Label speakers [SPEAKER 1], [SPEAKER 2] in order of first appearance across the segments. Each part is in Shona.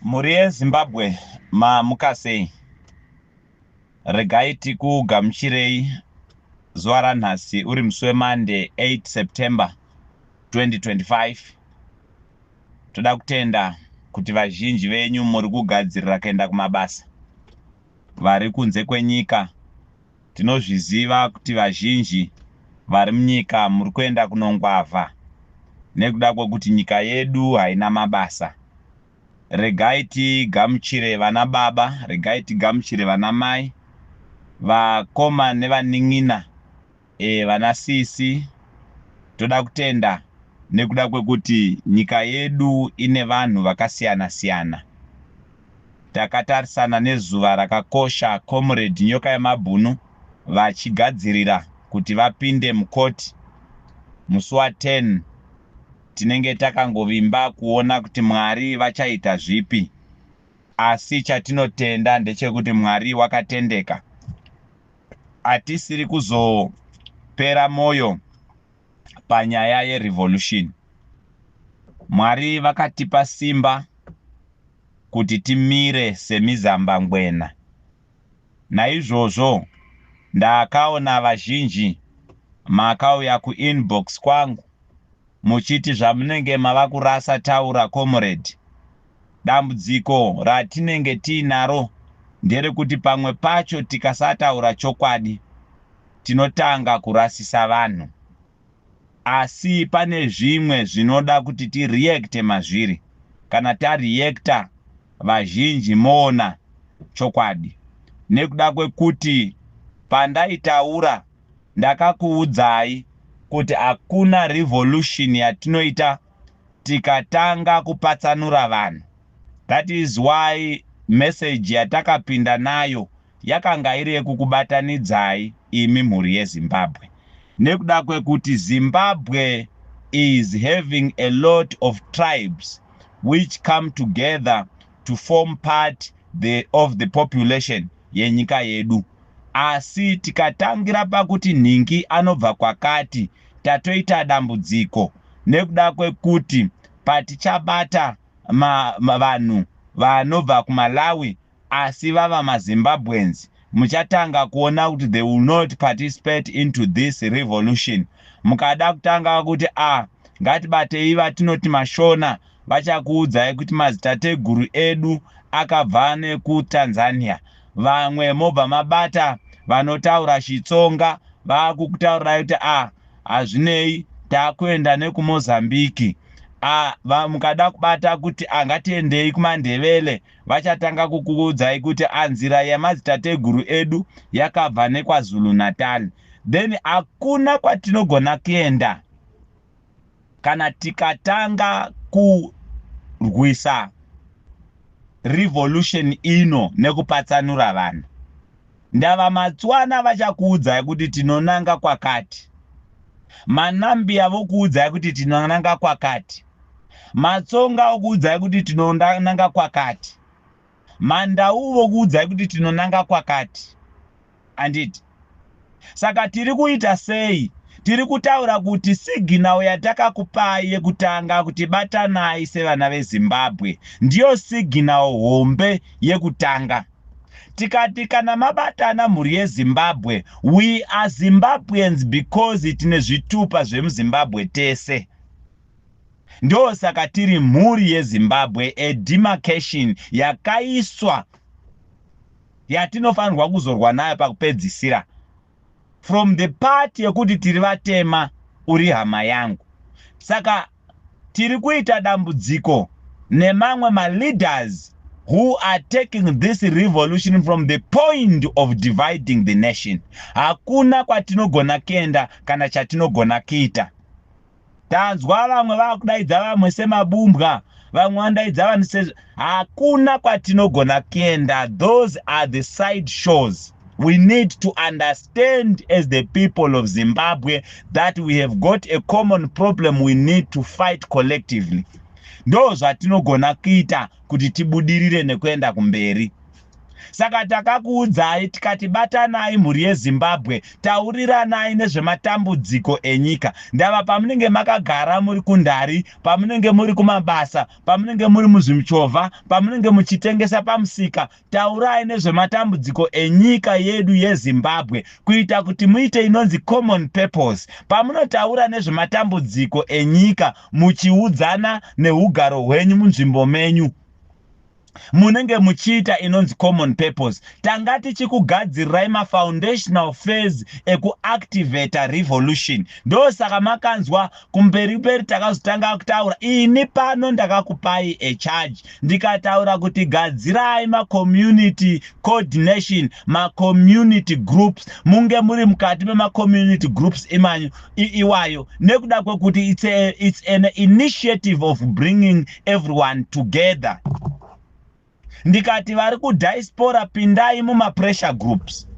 [SPEAKER 1] Mhuri yeZimbabwe mamukasei. Regai tikugamuchirei zuva ranhasi uri musi weMonday 8 September 2025. Toda kutenda kuti vazhinji venyu muri kugadzirira kuenda kumabasa vari kunze kwenyika. Tinozviziva kuti vazhinji vari munyika muri kuenda kunongwavha nekuda kwekuti nyika yedu haina mabasa. Regai tigamuchire vana baba, regai tigamuchire vana mai, vakoma nevanin'ina, e, vana sisi. Toda kutenda nekuda kwekuti nyika yedu ine vanhu vakasiyana siyana. takatarisana nezuva rakakosha Comrade Nyokayemabhunu vachigadzirira kuti vapinde mucourt musi wa 10 tinenge takangovimba kuona kuti Mwari vachaita zvipi asi chatinotenda ndechekuti Mwari wakatendeka hatisiri kuzopera moyo panyaya yerevolution. Mwari vakatipa simba kuti timire semizambangwena. Naizvozvo ndakaona vazhinji makauya kuinbox kwangu muchiti zvamunenge mava kurasa taura comrade Dambudziko ratinenge tiinaro nderekuti pamwe pacho tikasataura chokwadi tinotanga kurasisa vanhu. Asi pane zvimwe zvinoda kuti ti reacte mazviri. Kana ta reacter vazhinji moona chokwadi. Nekuda kwekuti pandaitaura ndakakuudzai kuti hakuna revolution yatinoita tikatanga kupatsanura vanhu that is why message yatakapinda nayo yakanga iri yekukubatanidzai imi mhuri yeZimbabwe nekuda kwekuti Zimbabwe is having a lot of tribes which come together to form part the, of the population yenyika yedu Asi tikatangira pakuti nhingi anobva kwakati tatoita dambudziko nekuda kwekuti patichabata ma, ma, vanhu vanobva kuMalawi asi vava maZimbabweans muchatanga kuona kuti they will not participate into this revolution. Mukada kutanga kuti ah ngatibatei vatinoti maShona vachakuudzai kuti mazitateguru edu akabva nekuTanzania vamwe mobva mabata vanotaura chitsonga vakukutaurirai kuti a ah, hazvinei takuenda nekumozambiki a ah, mukada kubata kuti angatiendei ah, kumandevele vachatanga kukuudzai kuti anzira yemadzitateguru edu yakabva nekwazulu natal then hakuna kwatinogona kuenda kana tikatanga kurwisa revolution ino nekupatsanura vanhu ndava matswana vachakuudzai kuti tinonanga kwakati manambiya vokuudzai kuti tinonanga kwakati matsonga okuudzai kuti tinonanga kwakati Mandau vokuudzai kuti tinonanga kwakati handiti? Saka tiri kuita sei? Tiri kutaura kuti signal yatakakupai yekutanga kuti batanai sevana veZimbabwe ndiyo signal hombe yekutanga. Tikati kana mabatana mhuri yeZimbabwe, we are Zimbabweans because tine zvitupa zvemuZimbabwe tese. Ndosaka tiri mhuri yeZimbabwe a demarcation yakaiswa yatinofanirwa kuzorwa nayo pakupedzisira from the part yekuti tiri vatema uri hama yangu saka tiri kuita dambudziko nemamwe maleaders who are taking this revolution from the point of dividing the nation hakuna kwatinogona kuenda kana chatinogona kuita Tanzwa vamwe vakudaidza vamwe semabumbwa, vamwe vandaidza vanhu sezvo. Hakuna kwatinogona kuenda. Those are the side shows. We need to understand as the people of Zimbabwe that we have got a common problem we need to fight collectively. Ndo zvatinogona kuita kuti tibudirire nekuenda kumberi. Saka takakuudzai tikati batanai mhuri yeZimbabwe tauriranai nezvematambudziko enyika. Ndava pamunenge makagara muri kundari, pamunenge muri kumabasa, pamunenge muri muzvimchovha, pamunenge muchitengesa pamusika, taurai nezvematambudziko enyika yedu yeZimbabwe kuita kuti muite inonzi common purpose. Pamunotaura nezvematambudziko enyika muchiudzana nehugaro hwenyu munzvimbo menyu. munenge muchiita inonzi common purpose tanga tichikugadzirirai mafoundational phase ekuactivata revolution ndosaka makanzwa kumberi mberi takazotanga kutaura ini pano ndakakupai echarge ndikataura kuti gadzirai macommunity coordination macommunity groups munge muri mukati memacommunity groups imanyu iwayo nekuda kwekuti it's, a, it's an initiative of bringing everyone together ndikati vari kudiaspora pindai mumapressure groups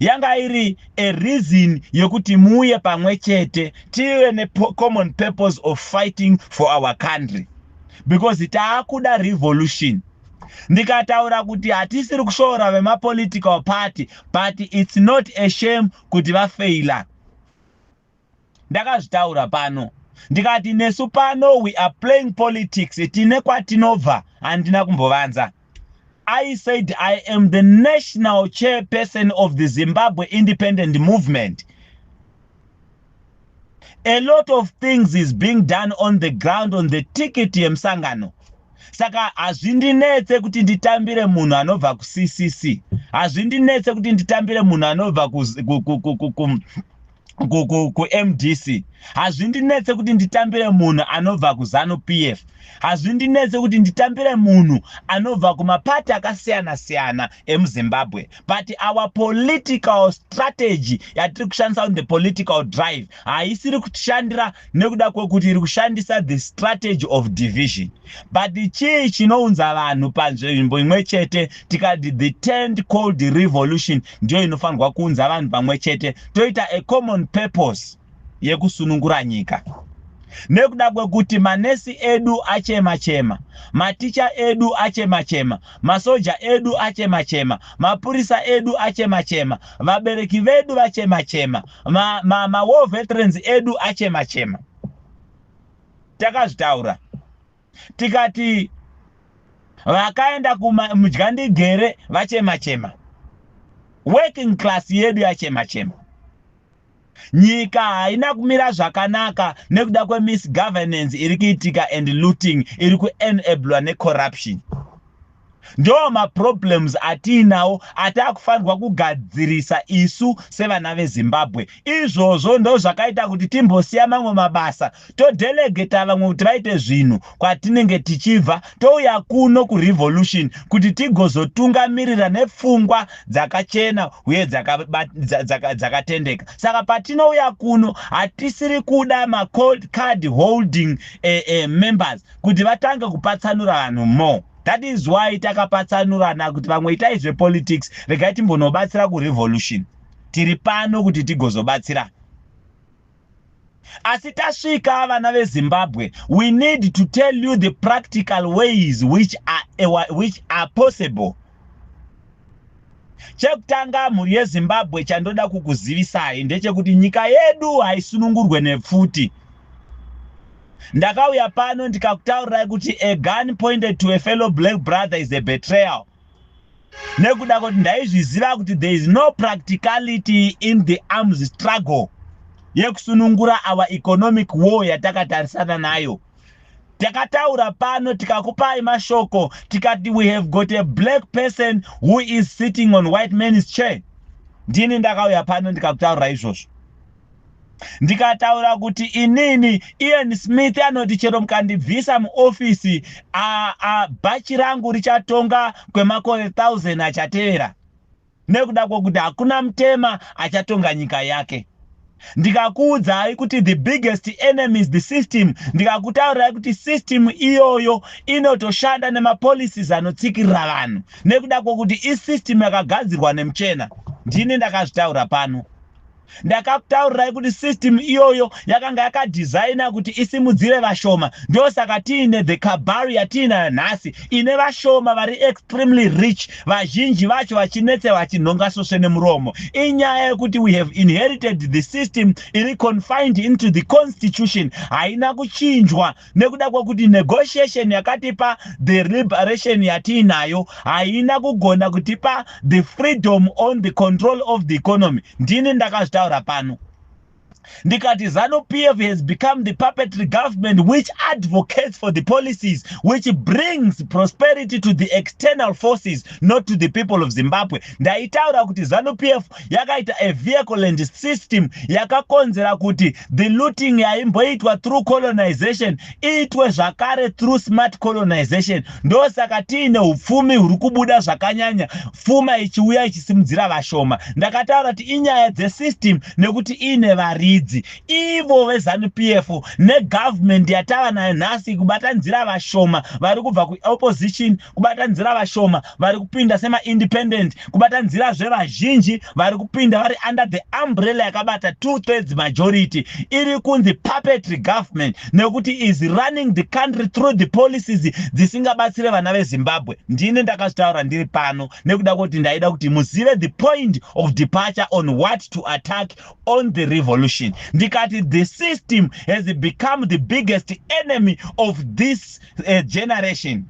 [SPEAKER 1] yanga iri a reason yekuti muuye pamwe chete tive necommon purpose of fighting for our country because taakuda revolution ndikataura kuti hatisiri kushoora vemapolitical party but its not a shame kuti vafeila ndakazvitaura pano ndikati nesu pano we are playing politics tine kwatinobva handina kumbovanza i said i am the national chairperson of the zimbabwe independent movement a lot of things is being done on the ground on the ticket yemusangano saka hazvindinetse kuti nditambire munhu anobva kuccc hazvindinetse kuti nditambire munhu anobva kumdc hazvindinetse kuti nditambire munhu anobva kuzanu p f hazvindinetse kuti nditambire munhu anobva kumapati akasiyana siyana emuzimbabwe but our political strategy yatiri kushandisa on the political drive haisiri kutishandira nekuda kwekuti iri kushandisa the strategy of division but chii chinounza vanhu panzvimbo imwe chete tikati the tend cold revolution ndiyo inofanirwa kuunza vanhu pamwe chete toita a common purpose yekusunungura nyika nekuda kwekuti manesi edu achema chema maticha edu achema chema masoja edu achema chema mapurisa edu achema chema vabereki vedu vachema chema ma, ma, ma war veterans edu achema chema takazvitaura tikati vakaenda kumudya ndigere vachema chema working class yedu yachema chema Nyika haina kumira zvakanaka nekuda kwemisgovernance iri kuitika and looting iri kuenablwa necorruption. Ndoo maproblems atiinawo ataakufanirwa kugadzirisa isu sevana veZimbabwe. Izvozvo ndozvakaita kuti timbosiya mamwe mabasa todelegeta vamwe kuti vaite zvinhu kwatinenge tichibva touya kuno kurevolution kuti tigozotungamirira nepfungwa dzakachena uye dzakatendeka saka patinouya kuno hatisiri kuda macold card holding eh, eh, members kuti vatange kupatsanura vanhu more that is why takapatsanurana kuti vamwe itai zvepolitics regai timbonobatsira kurevolution tiri pano kuti tigozobatsirana Asi tasvika vana veZimbabwe, we need to tell you the practical ways which are, eh, which are possible. Chekutanga mhuri yeZimbabwe chandoda kukuzivisai ndechekuti nyika yedu haisunungurwe nepfuti. Ndakauya pano ndikakutaurirai kuti a gun pointed to a fellow black brother is a betrayal. nekuda kuti ndaizviziva kuti there is no practicality in the arms struggle yekusunungura our economic war yatakatarisana nayo takataura pano tikakupai mashoko tikati we have got a black person who is sitting on white man's chair ndini ndakauya pano ndikakutaurira izvozvo ndikataura kuti inini ian smith anoti chero mukandibvisa muofisi bhachi rangu richatonga kwemakore 1000 achatevera nekuda kwokuti hakuna mutema achatonga nyika yake ndikakuudzai kuti the biggest enemy is the system ndikakutaurirai kuti system iyoyo inotoshanda nemapolicies anotsikirira vanhu nekuda kwokuti isystem yakagadzirwa nemuchena ndini ndakazvitaura pano ndakakutaurirai kuti system iyoyo yakanga yakadesigna kuti isimudzire vashoma ndosaka tiine the kabari yatiinayo nhasi ine vashoma vari extremely rich vazhinji vacho vachinetsa vachinhonga sosve nemuromo inyaya yekuti we have inherited the system iri confined into the constitution haina kuchinjwa nekuda kwekuti negotiation yakatipa the liberation yatiinayo haina kugona kutipa the freedom on the control of the economy ndini ndakazvitaura pano ndikati zanu pf has become the puppetry government which advocates for the policies which brings prosperity to the external forces not to the people of zimbabwe ndaitaura kuti zanu pf yakaita a vehicleland system yakakonzera kuti the looting yaimboitwa through colonization iitwe zvakare through smart colonization ndosaka tiine upfumi huri kubuda zvakanyanya pfuma ichiuya ichisimudzira vashoma ndakataura kuti inyaya dzesystem nekuti iine varidzi ivo vezanup f negovernment yatava nayo nhasi kubatanzira vashoma vari kubva kuopposition kubatanzira vashoma vari kupinda semaindependent kubatanzirazve vazhinji vari kupinda vari under the umbrella yakabata two thirds majority iri kunzi puppetry government nekuti is running the country through the policies dzisingabatsire vana vezimbabwe ndine ndakazvitaura ndiri pano nekuda kwekuti ndaida kuti muzive the point of departure on what to attack on the revolution ndikati the system has become the biggest enemy of this uh, generation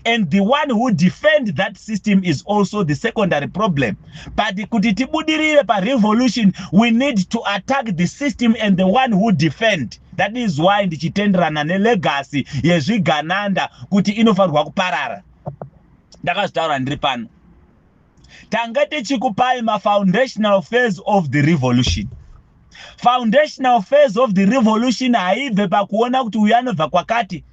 [SPEAKER 1] and the one who defend that system is also the secondary problem but kuti tibudirire parevolution we need to attack the system and the one who defend that is why ndichitenderana nelegacy yezvigananda kuti inofanirwa kuparara ndakazvitaura ndiri pano tanga tichikupai mafoundational phase of the revolution foundational phase of the revolution haibve pakuona kuti uyu anobva kwakati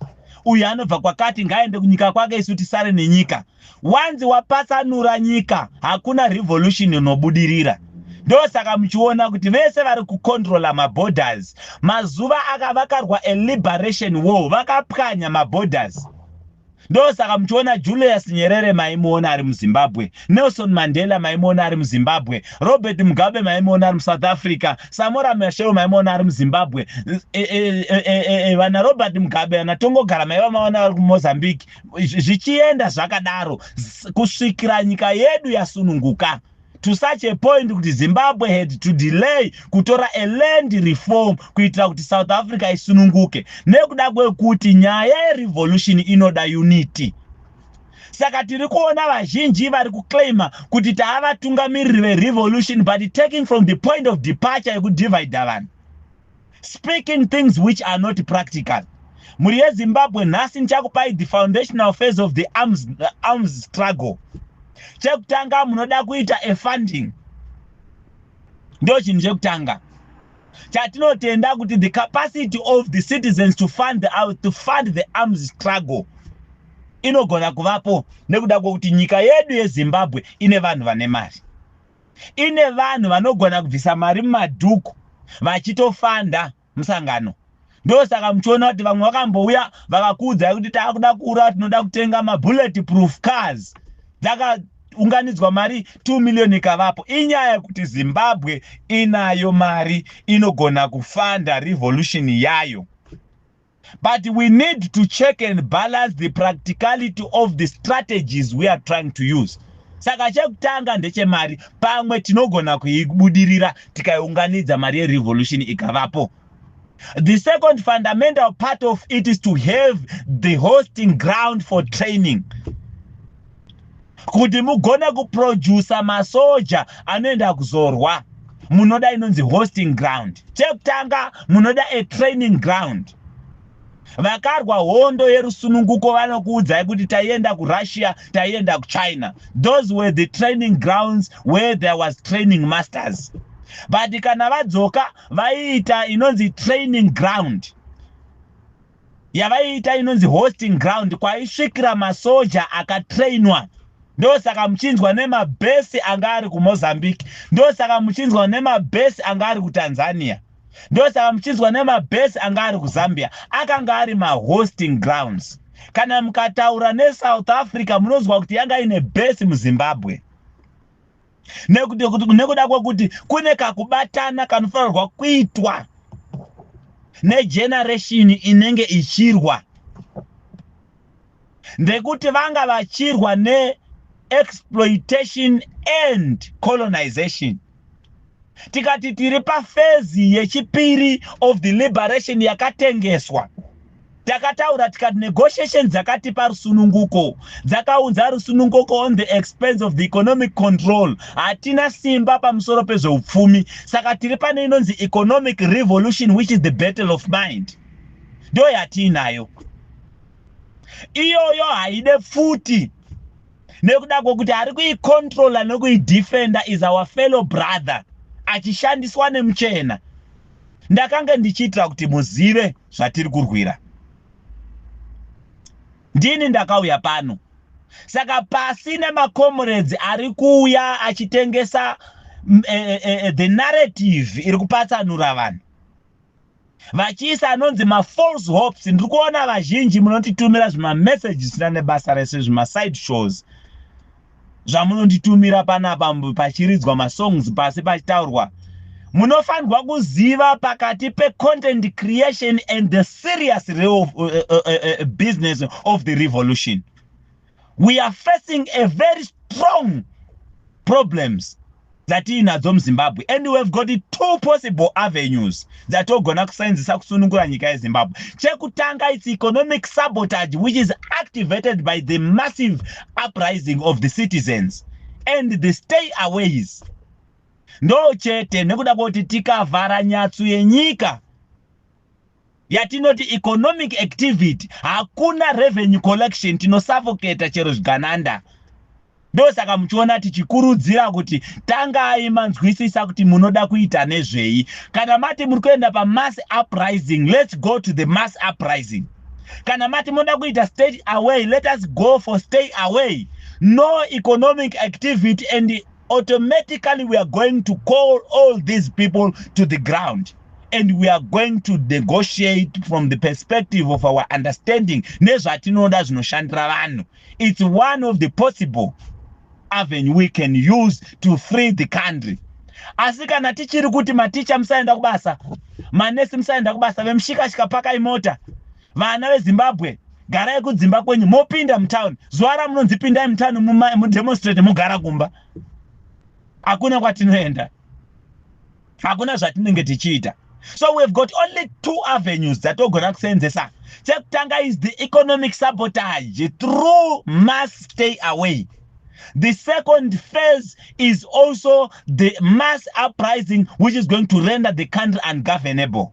[SPEAKER 1] uyu anobva kwakati ngaaende kunyika kwake isu tisare nenyika wanzi wapatsanura nyika hakuna revolution inobudirira ndosaka muchiona kuti vese vari kucontrola maborders mazuva akavakarwa eliberation war vakapwanya maborders Ndosaka muchiona Julius Nyerere maimuona ari muZimbabwe, Nelson Mandela maimuona ari muZimbabwe, Robert Mugabe maimuona ari muSouth Africa, Samora Machel maimuona ari muZimbabwe, e, e, e, vana Robert Mugabe, vana Tongogara maiva maona vari kuMozambique, zvichienda zvakadaro kusvikira nyika yedu yasununguka. to such a point kuti zimbabwe had to delay kutora a land reform kuitira kuti south africa isununguke nekuda kwekuti nyaya yerevolution inoda unity saka tiri kuona vazhinji vari kuclaima kuti taavatungamiriri verevolution but taking from the point of departure yekudivida vanhu speaking things which are not practical mhuri yezimbabwe nhasi ndichakupai the foundational phase of the arms, uh, arms struggle chekutanga munoda kuita a funding ndo chinhu chekutanga chatinotenda kuti the capacity of the citizens to fund the, uh, to fund the arms struggle inogona kuvapo nekuda kwokuti nyika yedu yezimbabwe ine vanhu vane mari ine vanhu vanogona kubvisa mari mumadhuku vachitofanda musangano ndosaka muchiona kuti vamwe vakambouya vakakuudzai kuti taakuda kuura tinoda kutenga mabullet proof cars dzaka unganidzwa mari 2 million ikavapo inyaya yekuti zimbabwe inayo mari inogona kufanda revolution yayo But we need to check and balance the practicality of the strategies we are trying to use. Saka chekutanga ndechemari, pamwe tinogona kuibudirira tikaiunganidza mari yerevolution ikavapo. The second fundamental part of it is to have the hosting ground for training. kuti mugone kuproducer masoja anoenda kuzorwa munoda inonzi hosting ground chekutanga munoda a training ground vakarwa hondo yerusununguko vanokuudzai kuti taienda kurussia taienda kuchina those were the training grounds where there was training masters but kana vadzoka vaiita inonzi training ground yavaiita inonzi hosting ground kwaisvikira masoja akatrainwa ndosaka muchinzwa nemabhesi anga ari kumozambique ndosaka muchinzwa nemabhesi anga ari kutanzania ndosaka muchinzwa nemabhesi anga ari kuzambia akanga ari mahosting grounds kana mukataura nesouth africa munonzwa kuti yanga ine bhesi muzimbabwe nekuda kwekuti kune kakubatana kanofanirwa kuitwa negenereshini inenge ichirwa ndekuti vanga vachirwa neexploitation and colonization tikati tiri pafezi yechipiri of the liberation yakatengeswa Takataura tikati negotiations dzakatipa rusununguko dzakaunza rusununguko on the expense of the economic control. Hatina simba pamusoro pezveupfumi saka tiri pane inonzi economic revolution which is the battle of mind. Ndiyo yatiinayo iyoyo haide futi nekuda kwokuti ari kuikontrola nokuidefenda is our fellow brother achishandiswa nemuchena ndakange ndichiitira kuti muzive zvatiri kurwira ndini ndakauya pano saka pasina makomuredzi ari kuuya achitengesa e, e, e, the narrative iri kupatsanura vanhu vachiisa anonzi mafalse hopes ndiri kuona vazhinji munotitumira zvimamessages zvisina nebasa rese zvimaside shows zvamunonditumira panapa pachiridzwa masongs pasi pachitaurwa munofanirwa kuziva pakati pecontent creation and the serious real uh, uh, uh, uh, uh business of the revolution we are facing a very strong problems dzatiinadzo muzimbabwe and we have got two possible avenues dzatogona kusainzisa kusunungura nyika yezimbabwe chekutanga its economic sabotage which is activated by the massive uprising of the citizens and the stay aways ndo chete nekuda kwekuti tikavhara nyatsu yenyika yatinoti economic activity hakuna revenue collection tinosavoketa chero zvigananda ndosaka muchiona tichikurudzira kuti tangai manzwisisa kuti munoda kuita nezvei kana mati muri kuenda pamass uprising let's go to the mass uprising kana mati munoda kuita state away let us go for stay away no economic activity and automatically we are going to call all these people to the ground and we are going to negotiate from the perspective of our understanding nezvatinoda zvinoshandira vanhu it's one of the possible avenue we can use to free the country asi kana tichiri kuti maticha musaenda kubasa manesi musaenda kubasa vemushikashika pakai mota Vana veZimbabwe garai kudzimba kwenyu mopinda mutown zuva ramunonzi pindai mutown mudemonstrate mogara kumba hakuna kwatinoenda hakuna zvatinenge tichiita so we have got only two avenues dzatogona kuseenzesa chekutanga is the economic sabotage through mass stay away the second phase is also the mass uprising which is going to render the country ungovernable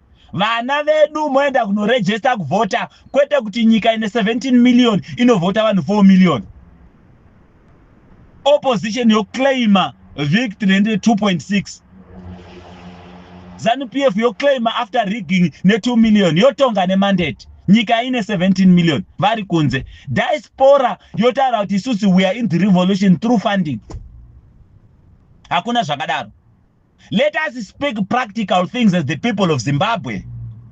[SPEAKER 1] vana vedu moenda kunoregister kuvhota kwete kuti nyika ine 17 million inovhota vanhu 4 million opposition yoclaima victory ndi 2.6 zanupf yoclaima after rigging ne2 million yotonga nemandate nyika ine 17 million vari kunze diaspora yotaura kuti isusu weare in the revolution through funding hakuna zvakadaro let us speak practical things as the people of zimbabwe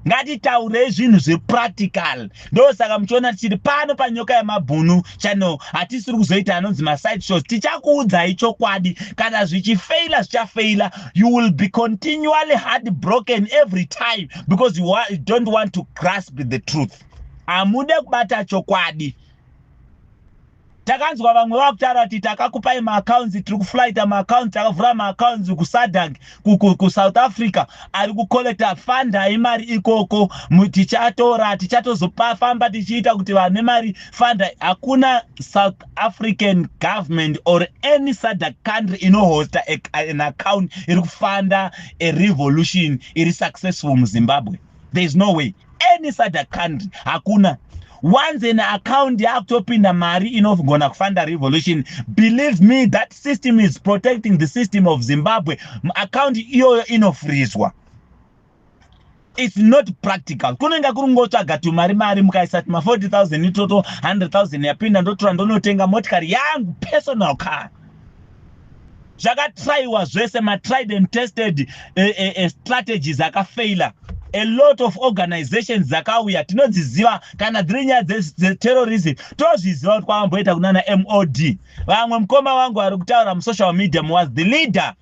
[SPEAKER 1] ngatitaurei zvinhu zvepractical ndosaka muchiona tichiri pano panyoka yemabhunu channel hatisiri kuzoita anonzi maside shows tichakuudzai chokwadi kana zvichifeila zvichafeila you will be continually hard broken every time because you, you don't want to grasp the truth hamude kubata chokwadi Takanzwa vamwe vakutaura kuti takakupai maaccounts tiri kuflighta maaccounts takavhura maaccounts kusadank kusouth africa ari kucollecta fundai mari ikoko tichatora tichatozofamba tichiita kuti vane mari fundai hakuna south african government or any sadak country inohosta an account iri kufunda a revolution iri successful muzimbabwe there is no way any such country hakuna once an account yakutopinda mari inogona kufanda revolution believe me that system is protecting the system of zimbabwe account iyoyo inofrizwa its not practical kunenge kuri ngotsvaga tumari mari mukaisa tuma 40 000 itoto 100 000 yapinda ndotora ndonotenga motikari yangu personal car zvakatraiwa zvese matried and tested uh, uh, uh, strategies akafaila a lot of organizations dzakauya tinodziziva kana dziri nyaya dzeterrorism tozviziva kuti kwavamboita kunana mod vamwe mukoma wangu ari kutaura musocial media was the leader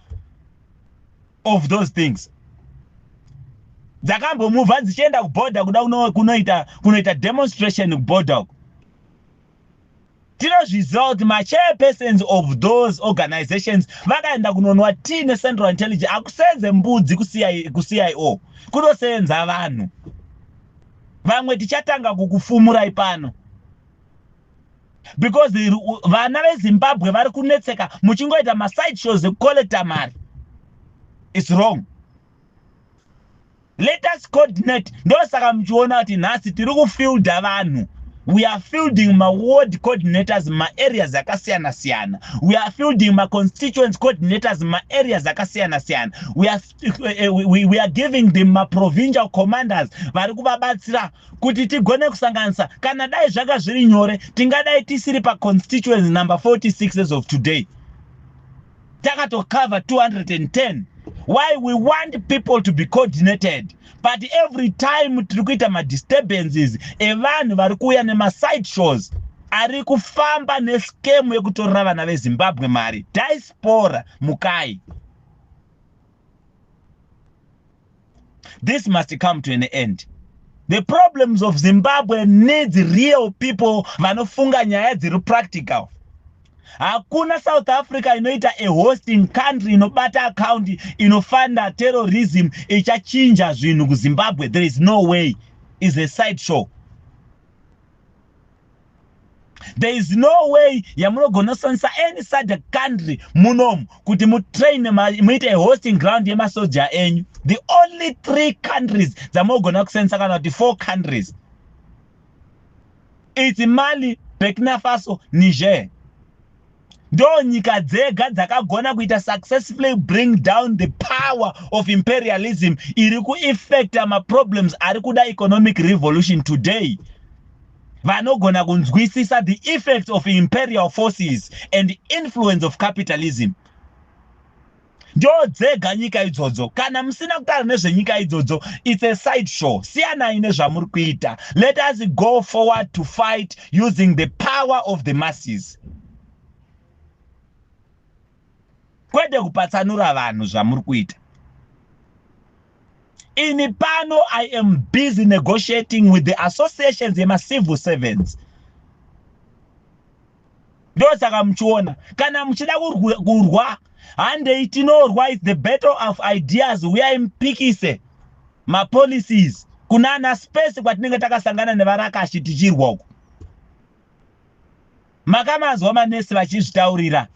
[SPEAKER 1] of those things dzakambomuvha dzichienda kuborder kuda kunoita kunoita demonstration kuborder uko tinozviziva kuti machairpersons of those organizations vakaenda kunonwa tea necentral intelligence akusenze mbudzi kucio kunosenza vanhu vamwe tichatanga kukufumurai pano because vana vezimbabwe vari kunetseka muchingoita maside shows ekucollecta mari its wrong let us coordinate ndosaka muchiona kuti nhasi tiri kufielda vanhu we are fielding maward coordinators maareas akasiyana siyana we are fielding maconstituents coordinators maareas akasiyana siyana we are, uh, we, we are giving them maprovincial commanders vari kuvabatsira kuti tigone kusanganisa kana dai zvanga zviri nyore tingadai tisiri paconstituents number 46 as of today takatocover 210 why we want people to be coordinated but every time tiri kuita madisturbances evanhu vari kuuya nemaside shows ari kufamba neskemu yekutorera vana vezimbabwe mari diaspora mukai This must come to an end. The problems of Zimbabwe needs real people vanofunga nyaya dziri practical. Hakuna South Africa inoita a hosting country inobata account inofanda terrorism ichachinja zvinhu kuZimbabwe. There is no way. Is a side show. there is no way yamunogona kushandisa any such a country munomu kuti mutrain muite hosting ground yemasoja enyu the only three countries dzamunogona kushandisa kana kuti four countries its mali burkina faso niger ndo nyika dzega dzakagona kuita successfully bring down the power of imperialism iri kueffecta maproblems ari kuda economic revolution today vanogona kunzwisisa the effects of imperial forces and influence of capitalism ndodzega nyika idzodzo kana musina kutaura nezvenyika idzodzo its a side show siyanai nezvamuri kuita let us go forward to fight using the power of the masses kwete kupatsanura vanhu zvamuri kuita ini pano i am busy negotiating with the associations yemacivil servants ndosaka muchiona kana muchida kurwa handei tinorwa is the battle of ideas huyai mupikise mapolicies kuna ana space kwatinenge takasangana nevarakashi tichirwa uko makamanzwa manesi vachizvitaurira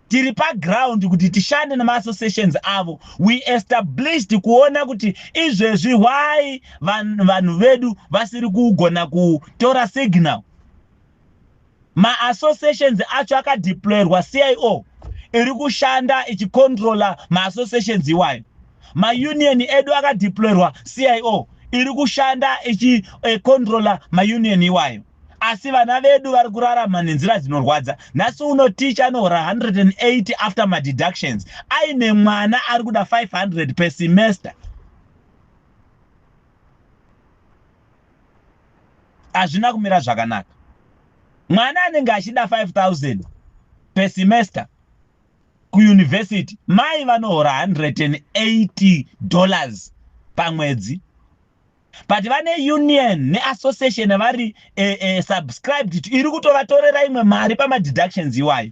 [SPEAKER 1] tiri paground kuti tishande nemaassociations avo we established kuona kuti izvezvi why vanhu vedu vasiri kugona kutora signal Maassociations acho akadeployerwa CIO iri kushanda ichicontroller maassociations iwayo. Maunion edu akadeployerwa CIO iri kushanda ichicontroller eh, maunion iwayo. Asi vana vedu vari kurarama nenzira dzinorwadza. Nhasi uno teacher anohora 180 after madeductions aine mwana ari kuda 500 per semester. hazvina kumira zvakanaka mwana anenge achida 5000 per semester kuyunivhesiti mai vanohora 180 dollars pamwedzi but vane union neassociation vari e, e, subscribed to iri kutovatorera imwe mari pamadeductions iwayo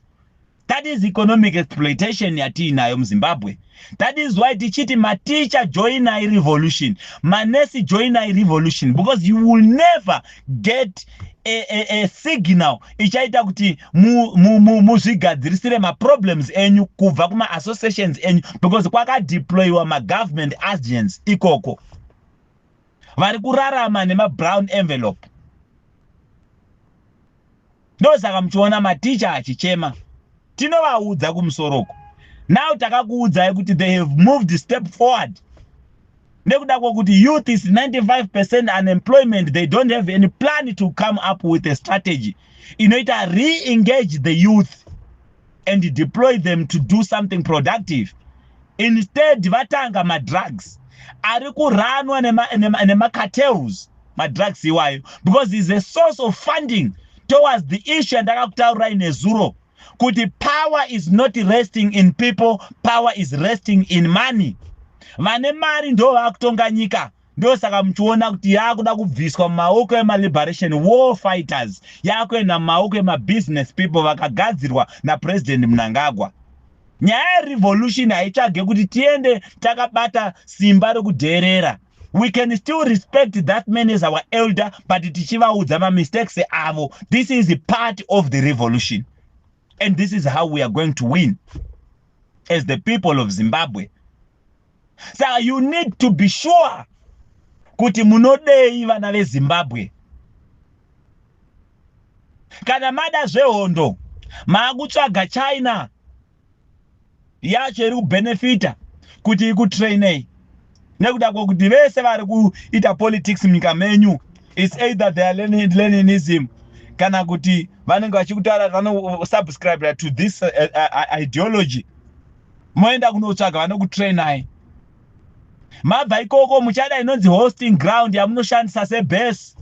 [SPEAKER 1] That is economic exploitation yatiinayo muZimbabwe. That is why tichiti mateacher join a revolution, manesi join a revolution because you will never get a, a, a signal ichaita kuti muzvigadzirisire maproblems enyu kubva kumaassociations enyu because kwakadeployiwa magovernment agents ikoko vari kurarama nemabrown envelope Ndosaka muchiona mateacher achichema. Tinovaudza kumusoro uko. Now takakuudzai kuti they have moved step forward. Nekuda kwokuti youth is 95% unemployment, they don't have any plan to come up with a strategy inoita re-engage the youth. and deploy them to do something productive instead vatanga madrugs ari kuranwa nemacartels madrugs iwayo because is a source of funding towards the issue yandakakutaurirai nezuro kuti power is not resting in people power is resting in money vane mari ndo vakutonga nyika ndosaka muchiona kuti yaakuda kubviswa mumaoko emaliberation war fighters yaakuenda mumaoko emabusiness people vakagadzirwa napresident mnangagwa nyaya yerevolution haitsvage kuti tiende takabata simba rekudheerera we can still respect that man as our elder but tichivaudza mamistakes avo this is part of the revolution and this is how we are going to win as the people of zimbabwe saka you need to be sure kuti munodei vana vezimbabwe kana mada zvehondo maakutsvaga china yacho iri kubenefita kuti ikutrainei nekuda kwekuti vese vari kuita politics munyika menyu its either they are leninism kana kuti vanenge vachikutaura vanosubscribera to this uh, uh, uh, ideology moenda kunotsvaga vanokutrainai mabva ikoko muchada inonzi hosting ground yamunoshandisa sebase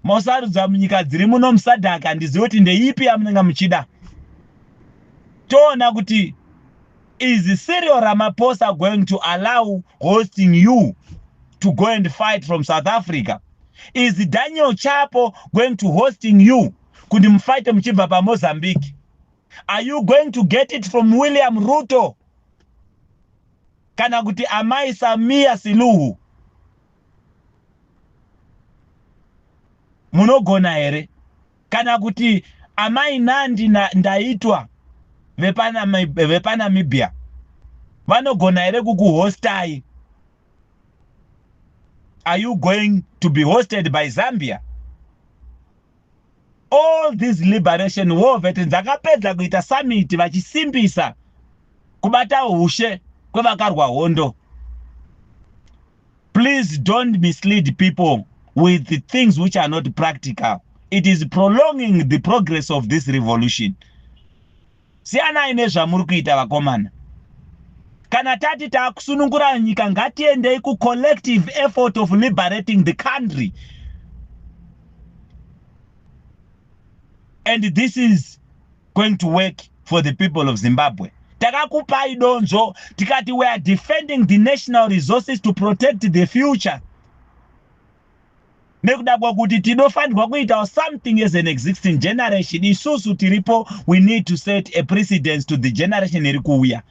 [SPEAKER 1] mosarudza munyika dziri muno musadhaka handizivi kuti ndeipi yamunenge muchida toona kuti is serial ramaposa going to allow hosting you to go and fight from south africa is daniel chapo going to hosting you kuti mufaite muchibva pamozambique Are you going to get it from William Ruto kana kuti amai Samia Siluhu? Munogona here? Kana kuti amai Nandi na Ndaitwa vepaNamibia vanogona here kukuhostai? Are you going to be hosted by Zambia? all these liberation war veterans vakapedza kuita summit vachisimbisa kubata ushe kwevakarwa hondo please don't mislead people with the things which are not practical it is prolonging the progress of this revolution Siyanai nezvamuri kuita vakomana. Kana tati takusunungura nyika ngatiendei ku collective effort of liberating the country. And this is going to work for the people of Zimbabwe. Takakupai donzvo tikati we are defending the national resources to protect the future. nekuda kwekuti tinofanirwa kuitawo something as an existing generation isusu tiripo we need to set a precedence to the generation iri kuuya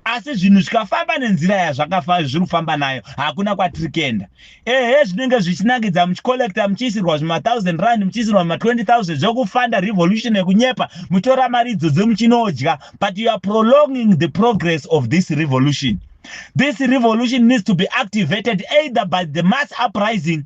[SPEAKER 1] asi zvinhu zvikafamba nenzira yazvakafa zviri kufamba nayo hakuna kwatiri kuenda ehe zvinenge zvichinakidza muchicollecta muchiisirwa zvimathousand rand muchiisirwa zvima20 thousand zvekufanda revolution yekunyepa muchitora mari idzodzo muchinoodya but you are prolonging the progress of this revolution this revolution needs to be activated either by the mass uprising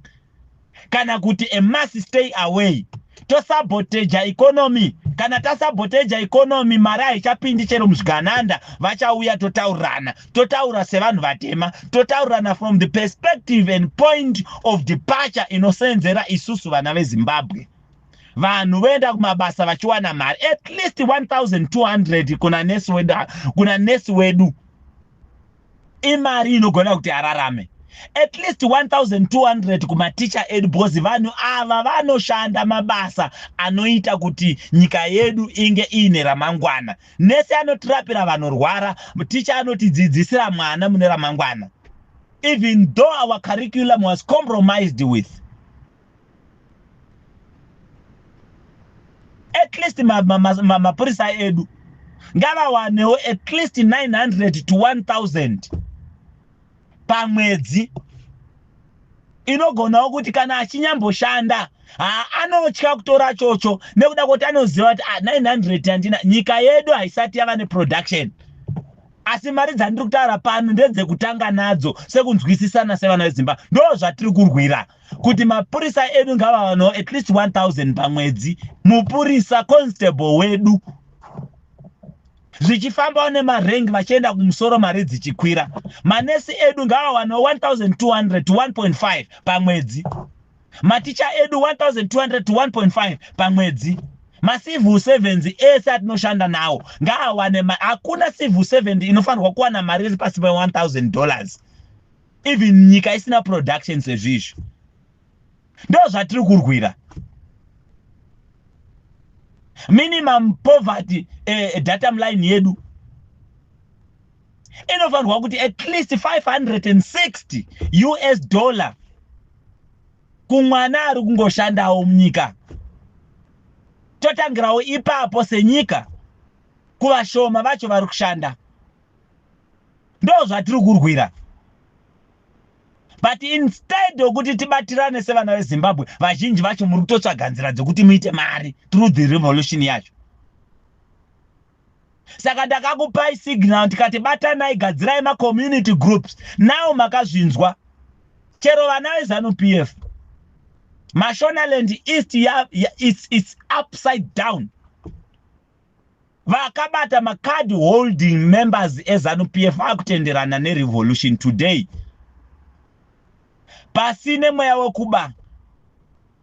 [SPEAKER 1] kana kuti a mass stay away tosaboteja economy kana tasaboteja economy mari haichapindi chero muzvigananda vachauya totaurirana totaura sevanhu vatema totaurirana from the perspective and point of departure inoseenzera isusu vana vezimbabwe vanhu voenda kumabasa vachiwana mari at least 1200 kuna nesi wedu kuna nesi wedu imari inogona kuti ararame at least 1200 kumaticha edu because vanhu ava vanoshanda mabasa anoita kuti nyika yedu inge iine ramangwana nese anotirapira vanorwara ticha anotidzidzisira mwana mune ramangwana even though our curriculum was compromised with at least mapurisa ma, ma, ma edu ngavawanewo at least 900 to 1000 pamwedzi inogonawo kuti kana achinyamboshanda anotya kutora chocho nekuda kuti anoziva kuti 900 ah, handina nyika yedu haisati yava neproduction asi mari dzandiri kutaura pano ndedzekutanga nadzo sekunzwisisana sevana vezimbabwe ndo zvatiri kurwira kuti mapurisa edu ngavawanawo at least 1000 pamwedzi mupurisa constable wedu zvichifambawo nemarengi vachienda kumusoro mari dzichikwira manesi edu ngavawanawo 1200 to 1.5 pamwedzi maticha edu 1200 to 1.5 pamwedzi macivil servants ese atinoshanda nawo ngaawane hakuna civil servant inofanirwa kuwana mari iri pasi pe 1000 dollars even nyika isina production sezvizvi ndozvatiri kurwira minimum poverty eh, datum line yedu inofanirwa kuti at least 560 us dollar kumwana ari kungoshandawo munyika totangirawo ipapo senyika kuvashoma vacho vari kushanda ndozvatiri kurwira but instead okuti tibatirane sevana vezimbabwe vazhinji vacho muri kutotsvaga nzira dzekuti muite mari through the revolution yacho saka ndakakupai signal ndikati batanai gadzirai macommunity groups now makazvinzwa chero vana vezanup f mashonaland east ya, ya, it's, it's upside down Vakabata macard holding members eZanu PF akutenderana nerevolution today. Pasi nemweya wekuba.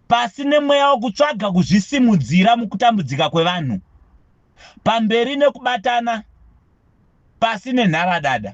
[SPEAKER 1] Pasi nemweya wekutsvaga kuzvisimudzira mukutambudzika kwevanhu. Pamberi nekubatana pasi nenharadada.